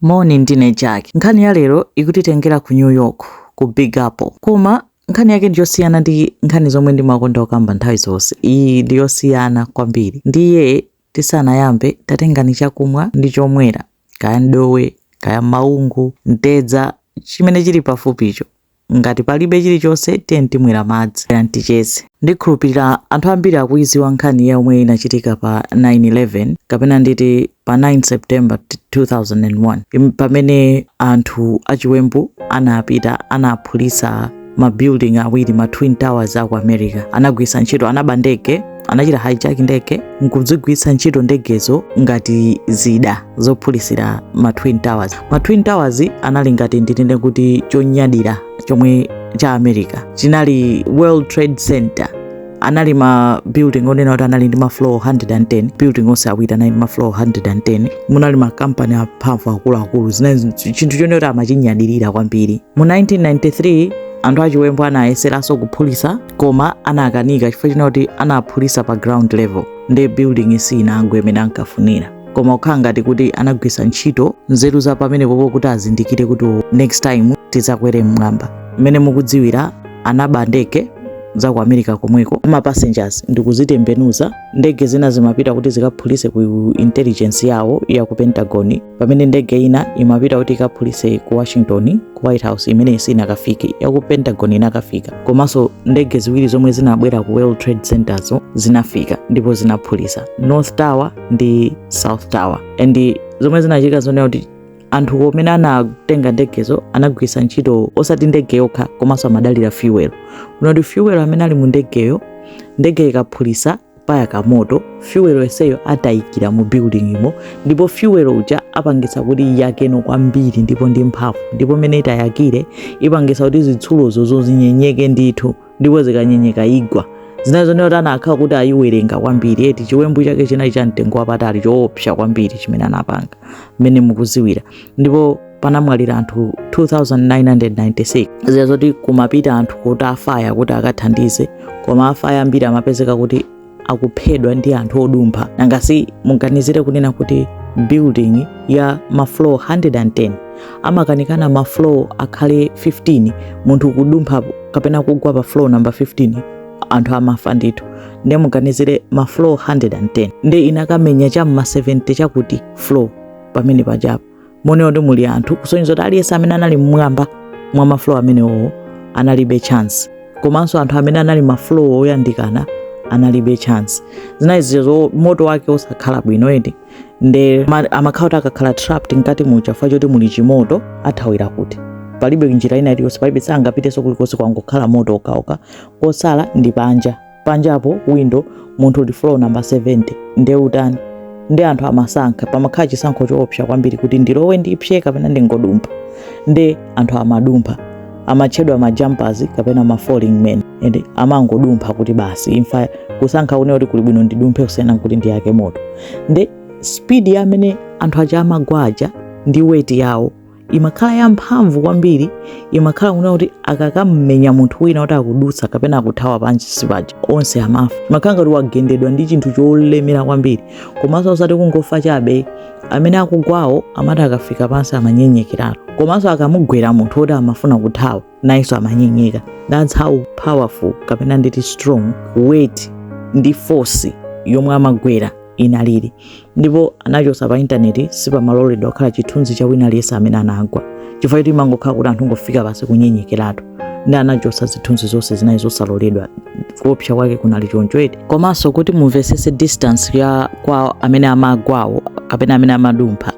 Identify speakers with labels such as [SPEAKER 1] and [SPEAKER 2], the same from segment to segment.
[SPEAKER 1] Moni, ndine Jack. Nkhani ya lero ikutitengera ku New York, ku Big Apple. Koma nkhani yake ndi yosiyana ndi nkhani zomwe ndimakonda kukamba nthawi zonse. Iyi ndi yosiyana kwambiri. Ndiye tisanayambe, tatengani chakumwa ndi chomwera, kaya mdowe, kaya maungu, mtedza, chimene chili pafupicho. Ngati palibe chilichonse, tiyeni timwere madzi. Bwerani ticheze. Ndikhulupirira anthu ambiri akuyidziwa nkhani yomwe inachitika pa 9/11 kapena nditi pa 9 September 2001 pamene anthu achiwembu anapita anaphulitsa ma building awiri ma twin towers aku America anagwiritsa ntchito anaba ndege anachita hijack ndege nkudzigwiritsa ntchito ndegezo ngati zida zophulisira ma twin towers ma twin towers anali ngati ndinene kuti chonyadira chomwe cha america chinali world trade center anali ma building onena kuti anali ndi ma floor 110 building onse awiri anali ndi ma floor 110 munali ma company amphamvu akuluakulu zinali chinthu chonena kuti amachinyadirira kwambiri mu 1993 anthu achiwembu anayeseranso kuphulisa koma anakanika chifukwa chonena kuti anaphulisa pa ground level nde building siyinagwe mmene ankafunira koma kukhala ngati kuti anagwisa ntchito nzeru za pamenepopo kuti azindikire kuti oh, next time tizakwere mmwamba mmene mukudziwira anaba ndege za ku america komweko za ma passengers ndikuzitembenuza ndege zina zimapita kuti zikaphulise ku intelligence yawo ya ku pentagon pamene ndege ina imapita kuti ikaphulise ku washington ku white house imene sinakafike yaku pentagon inakafika komanso ndege ziwiri zomwe zinabwera ku world trade centerzo zinafika ndipo zinaphulisa north tower ndi south tower and zomwe zinachitika nzonena kuti anthu amene anatenga ndegezo anagwiritsa ntchito osati ndege yokha komanso amadalira fuel kunena kuti fuel amene ali mu ndegeyo ndege ikaphulisa payaka moto fyuwelo yenseyo atayikira mu buildingimo ndipo fyuwelo uja apangisa kuti iyake kwambiri ndipo ndi mphamvu ndipo mmene itayakire ipangisa kuti zitsulozo zinyenyeke ndithu ndipo zikanyenyeka igwa zinaoneka kuti anakhala kuti ayiwerenga kwambiri eti chiwembu chake chinali cha mtengo wapatali choopsa kwambiri chimene anapanga mmene mukuziwira ndipo panamwalira anthu 2996 dziwa zoti kumapita anthu kuti afaya kuti akathandize koma afaya ambiri amapezeka kuti akuphedwa ndi anthu odumpha nangasi muganizire kunena kuti building ya mafloor 110 amakanika mafloor akhale 15 munthu kudumpha kapena kugwa pa floor number 15 anthu amafa ndithu ndiye muganizire mafloor 110 ndiye inakamenya cha mma 70 chakuti floor pamene pajapo mwina kuti muli anthu kusonyeza kuti aliyense amene anali mmwamba mwa maflow amenewowo analibe chance komanso anthu amene anali maflow oyandikana analibe chance zinaizo moto wake osakhala bwino eti nde ma- amakhala kuti akakhala trapped mkati muja chifukwa choti muli chimoto athawira kuti palibe njira ina iliyonse palibe sangapitenso kulikonse kwangokhala moto okhaokha kotsala ndi panja panjapo window munthu uli floor number 70 nde utani ndi anthu amasankha pamakhala chisankho choopsa kwambiri kuti ndilowe ndipsye kapena ndingodumpha nde anthu amadumpha amatchedwa majumpers kapena ma falling men and amangodumpha kuti basi imfa kusankha kunena kuti kuli bwino ndidumphe kusiyana kuti ndiyake moto nde speed ya mmene anthu aja amagwa muja ndi weight yawo imakhala yamphamvu kwambiri imakhala kunena kuti akakamumenya munthu wina kuti akudutsa kapena akuthawa pansi paja onse amafa imakhala ngati wagendedwa ndi chinthu cholemera kwambiri komanso osati kungofa chabe amene akugwawo amati akafika pansi amanyenyekeratu komanso akamugwera munthu woti amafuna kuthawa nayenso amanyenyeka that's how powerful kapena nditi strong weight ndi force yomwe amagwera inalili ndipo anachotsa pa intaneti sipamaloledwa kukhala chithunzi cha wina aliyense amene anagwa chifukwa choti imangokhala kuti anthu kungofika pansi kunyenyekeratu ndi anachotsa zithunzi zonse zinali zosaloledwa kuopsa kwake kunali choncho eti komanso kuti mumvetsetse distance ya kwa amene amagwawo kapena amene amadumpha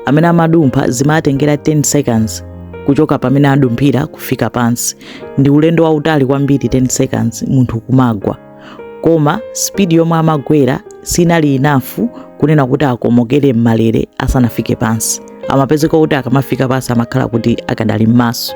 [SPEAKER 1] amene amadumpha zimatengera 10 seconds kuchoka pamene adumphira kufika pansi ndi ulendo wautali kwambiri 10 seconds munthu kumagwa koma spidi yomwe amagwera sinali enough kunena kuti akomokere m'malere asanafike pansi amapezeka kuti akamafika pansi amakhala kuti akadali m'maso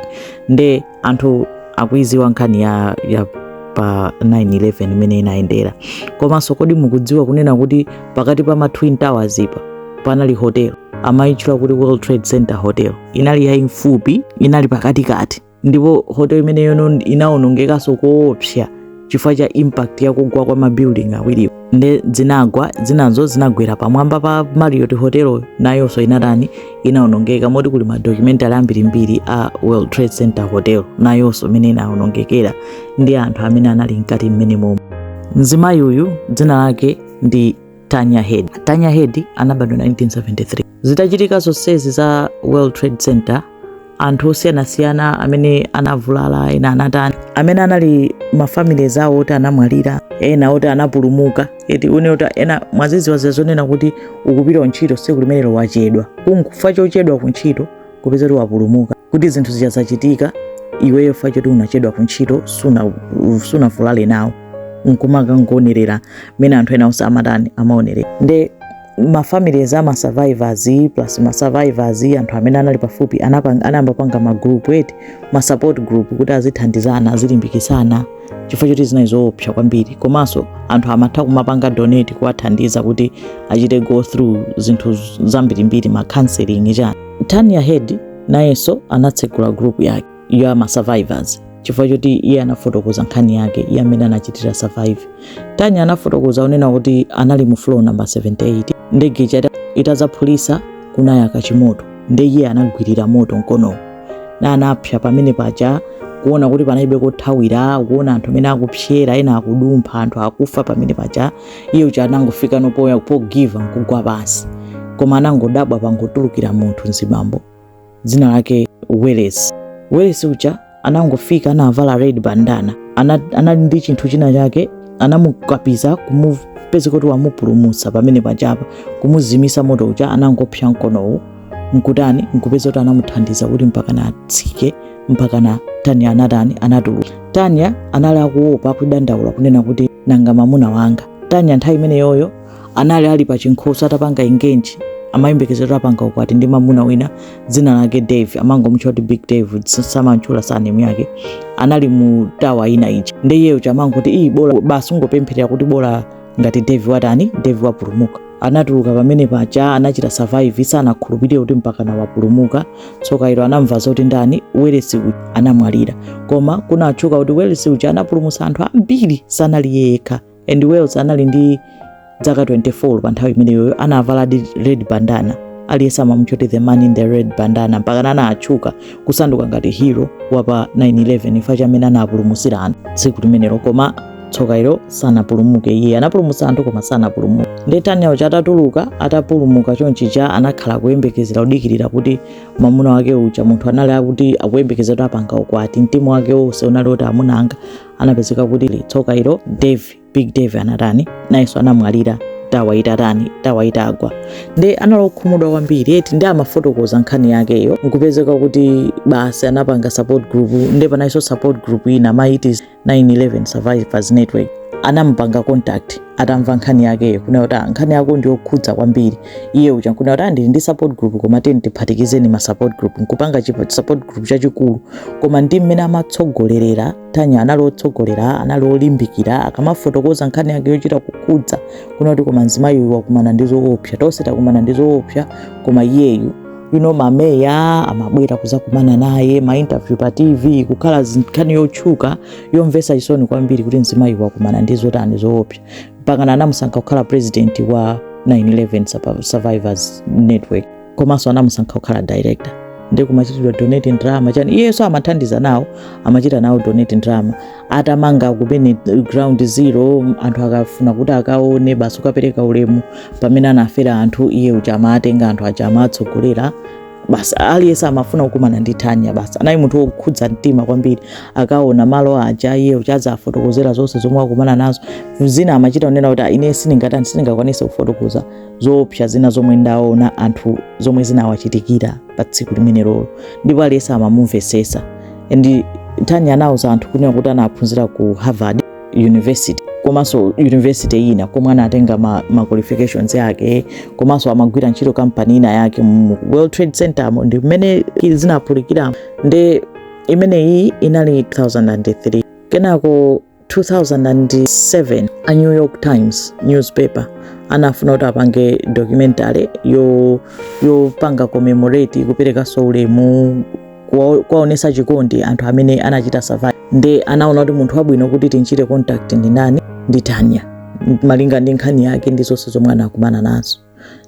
[SPEAKER 1] nde anthu akuidziwa nkhani ya, ya pa 911 imene inayendera komanso kodi mukudziwa kunena kuti pakati pa ma twin towers apa panali hotel amayitchula kuti world trade center hotel inali yaifupi inali pakatikati ndipo hotel imeneyo inawonongekanso koopsa chifukwa cha impact ya kugwa kwa mabuilding awiri aja nde zinagwa zinazo zinagwera pamwamba pa Marriott Hotel nayonso inatani inaonongeka moti kuli ma documentary ambirimbiri a World Trade Center Hotel nayonso mmene inaonongekera ndi anthu amene anali mkati mwenemomo mzimayi uyu dzina lake ndi Tanya Head. Tanya Head anabadwa 1973. Zitachitika zonsezi za World Trade Center anthu osiyanasiyana amene anavulala ena anatani amene anali mafamilies awo oti anamwalira ena oti anapulumuka eti une oti ena mwazidziwa zija zonena kuti ukupita kuntchito tsiku limenelo wachedwa chifukwa chochedwa ku ntchito kupeza kuti wapulumuka kuti zinthu zija zachitika iweyo ifa choti unachedwa ku ntchito suna- sunavulale nawo nkumaka nkuonerera mmene anthu ena onse amatani amaonerera nde mafamilies ama survivors plus ma survivors anthu amene anali pafupi anapang- anayamba kupanga ma group eti ma support group kuti azithandizana azilimbikitsana chifukwa choti zinali zoopsa kwambiri komanso anthu amatha kumapanga donate kuwathandiza kuti achite go through zinthu zambirimbiri ma counseling chani Tanya Head nayenso anatsegula group yake ya ma survivors chifukwa choti iye anafotokoza nkhani yake iye mmene anachitira survive. Tanya anafotokoza kunena kuti anali mu floor number 78 ndege ija itazaphulisa kunayaka chimoto nde iye anagwirira moto mkonowo na anapsa pamene paja kuona kuti panalibe kothawira kuona anthu amene akupsera ena akudumpha anthu akufa pamene paja iye uja anangofika poti pogiva nkugwa pansi koma anangodabwa pangotulukira munthu mzibambo dzina lake welesi welesi uja anangofika anavala red bandana ana- anali ndi chinthu china chake anamukapiza nkupeza kuti wamupulumutsa pamene pajapa kumuzimisa moto uja anangopsa mkonowu nkutani nkupeza kuti anamuthandiza kuti mpakana atsike mpakana tanya anatani anatuluka tanya anali akuopa kudandaula kunena kuti nanga mamuna wanga tanya nthawi imeneyoyo anali ali pa chinkhoso atapanga ingenji amayembekezera apanga ukwati ndi mamuna wina dzina lake dave amangomutcha kuti big dave samatchula surname yake anali mu tawa ina ija nde iye uja amangoti iyi bola basi kungopempherera kuti bola ngati dave watani dave wapulumuka anatuluka pamene paja anachita survive sanakhulupirire kuti mpakana wapulumuka tsoka ilo anamva zoti ndani welesi uja anamwalira koma kunatchuka kuti welesi uja anapulumutsa anthu ambiri sanali yekha and welesi anali ndi zaka 24 pa nthawi imeneyoyo anavala di red bandana aliyense amamutcha kuti the man in the red bandana mpaka anatchuka kusanduka ngati hero wapa 911 ifa chamene anapulumutsira anthu tsiku limenelo koma tsoka ilo sanapulumuke iye anapulumutsa anthu koma sanapulumuke nde tanya uja atatuluka atapulumuka chonchija anakhala kuyembekezera kudikirira kuti mamuna wake uja munthu anali akuti akuyembekezera kuti apanga ukwati mtima wake wonse unali kuti amuna anga anapezeka kuti tsoka ilo dave big dave anatani nayenso anamwalira tawa itatani tawa itagwa nde anali okhumudwa kwambiri eti nde amafotokoza nkhani yakeyo nkupezeka kuti basi anapanga support group nde panalinso support group ina amati 911 Survivors Network anampanga contact atamva nkhani yakeyo kunena kuti "Ah, nkhani yako ndi yokhudza kwambiri iye uja nkunena kuti "Ah, ndili ndi support group koma tiyeni tiphatikize ma support group nkupanga chipa- support group chachikulu koma ndi mmene amatsogolerera tanya anali otsogolera anali olimbikira akamafotokoza nkhani yake yochita kukhudza kunena kuti koma mzimayi uyu wakumana ndi zoopsa tonse takumana ndi zoopsa koma iyeyu you know ma media amabwera kuzakumana naye mainterview pa tv kukhala nkhani yotchuka yomvesa chisoni kwambiri kuti mzimayi wakumana ndi zotani zoopsa mpakana anamusankha kukhala president wa 911 survivors network komanso anamusankha kukhala director ndi kumachitidwa donate ndalama chani iyenso amathandiza nawo amachita nawo donate ndalama atamanga kumene ground zero anthu akafuna kuti akaone basi kukapereka ulemu pamene anafera anthu iye uja amatenga anthu aja amatsogolera basi aliyense amafuna kukumana ndi Tanya basi anali munthu wokhudza mtima kwambiri akaona malo aja iye uja nkuwafotokozera zonse zomwe akumana nazo zina amachita kunena kuti "Ah, ine sindingatani sindingakwanise kufotokoza zoopsa zina zomwe ndaona anthu zomwe zinawachitikira pa tsiku limenelolo ndipo aliyense amamumvesesa and tanya anauza anthu kunena kuti anaphunzira ku harvard university komanso university ina komwe anatenga ma, ma qualifications yake komanso amagwira ntchito kampani ina yake mu world trade center mo ndi mmene zinaphulikira nde imene iyi inali 2003 kenako 2007 a new york times newspaper anafuna kuti apange documentary yopanga commemorate kuperekanso ulemu kuwa- kuwaonesa chikondi anthu amene anachita survive nde anaona kuti munthu wabwino kuti timchite contact ndi ndani ndi tanya malinga ndi nkhani yake ndi zonse zomwe anakumana nazo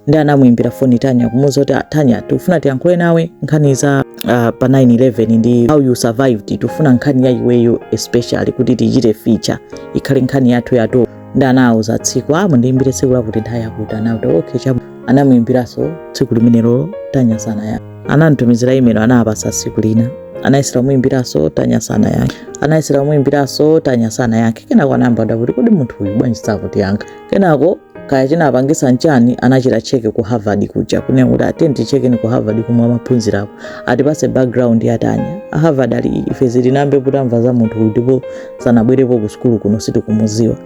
[SPEAKER 1] nde anamuimbira foni Tanya kumuuza kuti "Ah, Tanya tikufuna tiyankhule nawe nkhani za ah, pa 911 ndi how you survived tikufuna nkhani ya iweyo especially kuti tichite feature ikhale nkhani yathu ya top nde anawauza tsiku a mundiimbire tsiku lakuti nthawi yakuti anauti okay chabwino anamuimbiranso tsiku limenelo Tanya sanayankhe anamtumizira imelo anawapasa tsiku lina anayesera kumuimbiranso Tanya sanayankhe anayesera kumuimbiranso Tanya sanayankhe kenako anayamba kuti kodi munthu uyu bwanji sakutiyankha kenako kaya chinapangisa nchani anachita check ku harvard kuja kunena kuti ati tiyeni ticheke ku harvard komwe amaphunzirapo atipase background ya tanya a harvard ali ife sitinayambe tamva za munthu ndipo sanabwerepo ku sukulu kuno sitikumuziwa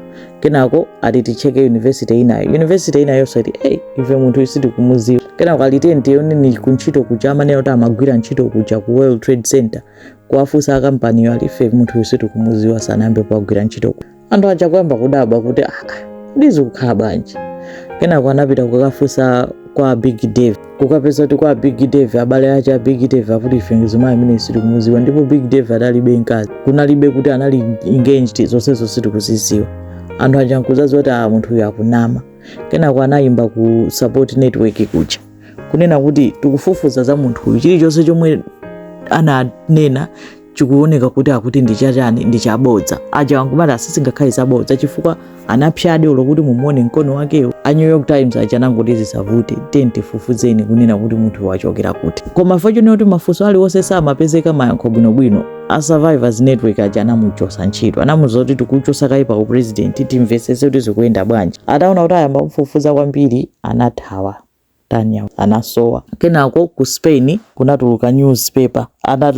[SPEAKER 1] kenako ati ticheke university inayo university inayonso ati hey, ife munthu uyu sitikumuziwa kenako ali tiyeni tiwone kuntchito kuja amanena kuti amagwira ntchito kuja ku world trade center kuwafunsa akampaniyo ali ife munthu uyu sitikumuziwa sanayambe wagwira ntchito kuja anthu aja kuyamba kudabwa kuti aa nde zikukhala bwanji kenako anapita kukafunsa kwa big dave kukapeza kuti kwa big dave abale ache a big dave akuti ife mzimayi amene sitikumuziwa ndipo big dave adalibe mkazi kunalibe kuti anali engaged zonsezo sitikuziziwa anthu aja nkuzaziwa kuti a munthu uyu akunama kenako anayimba ku support network kuja kunena kuti tikufufuza za munthu uyu chilichonse chomwe ananena chikuoneka kuti akuti ndi chachani ndi chabodza aja angomati aa sizingakhale zabodza chifukwa anapsya ndi olo kuti mumuone mkono wakewo a new york times aja anangoti zisavute tiyeni tifufuzeni kunena kuti munthu wachokera kuti koma nkumaonano kuti mafunso aliwonse samapezeka mayankho bwinobwino a survivors network aja anamuchosa ntchito anamuza kuti tikuchosa kaye pa u president timvesese kuti zikuyenda bwanji ataona kuti ayamba kumufufuza kwambiri anathawa Tanya anasowa. Kenako ku Spain kunatuluka newspaper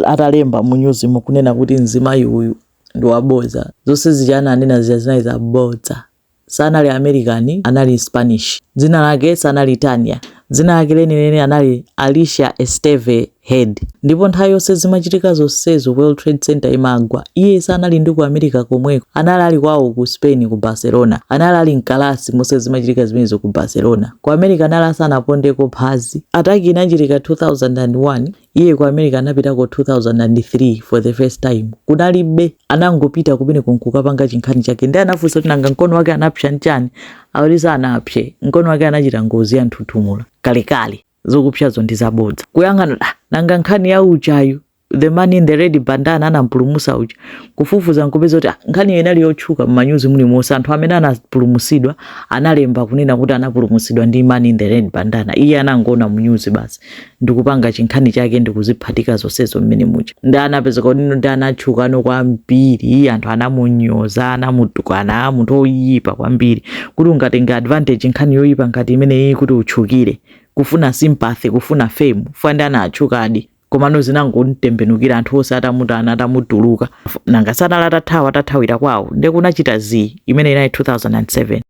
[SPEAKER 1] atalemba mu nyuzimo kunena kuti mzimayi uyu ndi wabodza. Zonse zija ananena zija zinali zabodza. Sanali American anali Mspanish. Dzina lake sanali Tanya. Dzina lake lenileni anali Alicia Esteve head ndipo nthawi yonse zimachitika zonsezo world trade center imagwa iye sanali ndi ku america komweko anali ali kwawo ku spain ku barcelona anali ali mkalasi monse zimachitika zimenezo ku barcelona ku america anali asanapondeko phazi attack inachitika 2001 iye ku america anapitako 2003 for the first time kunalibe anangopita kumeneko nkukapanga chinkhani chake ndiye anafunsa kuti nanga mkono wake anapsa nchani akuti sanapse mkono wake anachita ngozi ya njinga yamoto kalekale zokupsazo ndi zabodza kuyang'ana ah, nanga nkhani ya ujayu the man in the red bandana anampulumusa uja kufufuza nkupeza kuti ah, nkhaniyo inali yotchuka mmanyuzi mulimonse anthu amene anapulumusidwa analemba kunena kuti anapulumusidwa ndi man in the red bandana iye anangoona mnyuzi basi ndikupanga chinkhani chake ndikuziphatika zonsezo mmene muja ndi anapezeka udindo ndi anatchukano kwambiri anthu anamunyoza anamutukwana munthu oyipa kwambiri kuti ungatenga advantage nkhani yoyipa ngati imeneyi kuti utchukire kufuna sympathy kufuna fame chifukwa nde anatchukadi komano zinangomtembenukira anthu onse atamukana atamutulukira nanga sanali atathawa atathawira kwawo nde kunachita zii imene inali 2007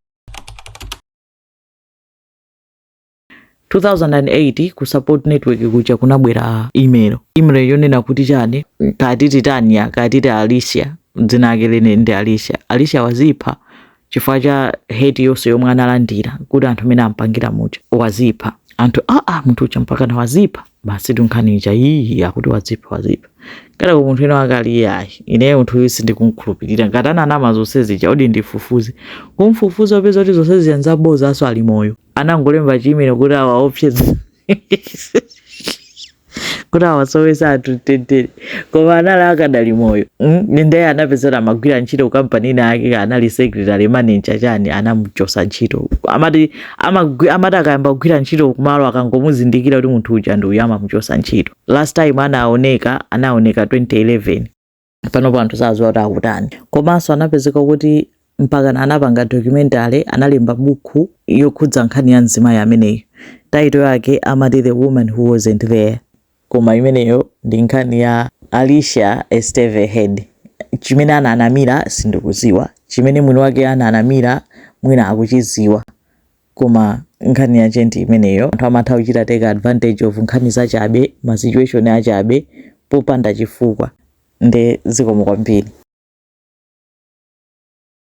[SPEAKER 1] 2008 ku support network kuja kunabwera email email yonena kuti chani kaya titi tanya kaya titi alicia dzina lake lenileni alicia alicia wazipha chifukwa cha hate yonse yomwe analandira kuti anthu mmene ampangira muja wazipha anthu aa ah, ah, munthu uja mpakana wazipha basi ti nkhani ija iyi akuti wazipha wazipha ngati munthu wina wake ali iyayi ineyo munthu uyu sindikumkhulupirira ngati ananama zonse zija odi ndifufuze kumfufuza nkupeza kuti zonse zija nzabozaso ali moyo anangolemba chi email kuti awaopseze kuti awasowese anthu mtendere koma anali akadali moyo mm? ndiye anapezeka amagwira ntchito ku kampani ina yake anali secretary manager chani anamuchosa ntchito amati amagwi- amati akayamba kugwira ntchito kumalo akangomuzindikira kuti munthu uja ndi uyu amamuchosa ntchito last time anaoneka anaoneka 2011 panopo anthu sadziwa kuti akutani komanso anapezeka kuti mpakana anapanga documentary analemba buku yokhudza nkhani ya mzimayi ameneyo title yake amati the woman who wasn't there koma imeneyo ndi nkhani ya alicia esteve head chimene ananamira sindikuziwa chimene mwini wake ananamira mwina akuchiziwa Koma nkhani yache ndi imeneyo anthu amatha kuchita take advantage of nkhani zachabe, ma situation achabe popanda chifukwa nde zikomo kwambiri.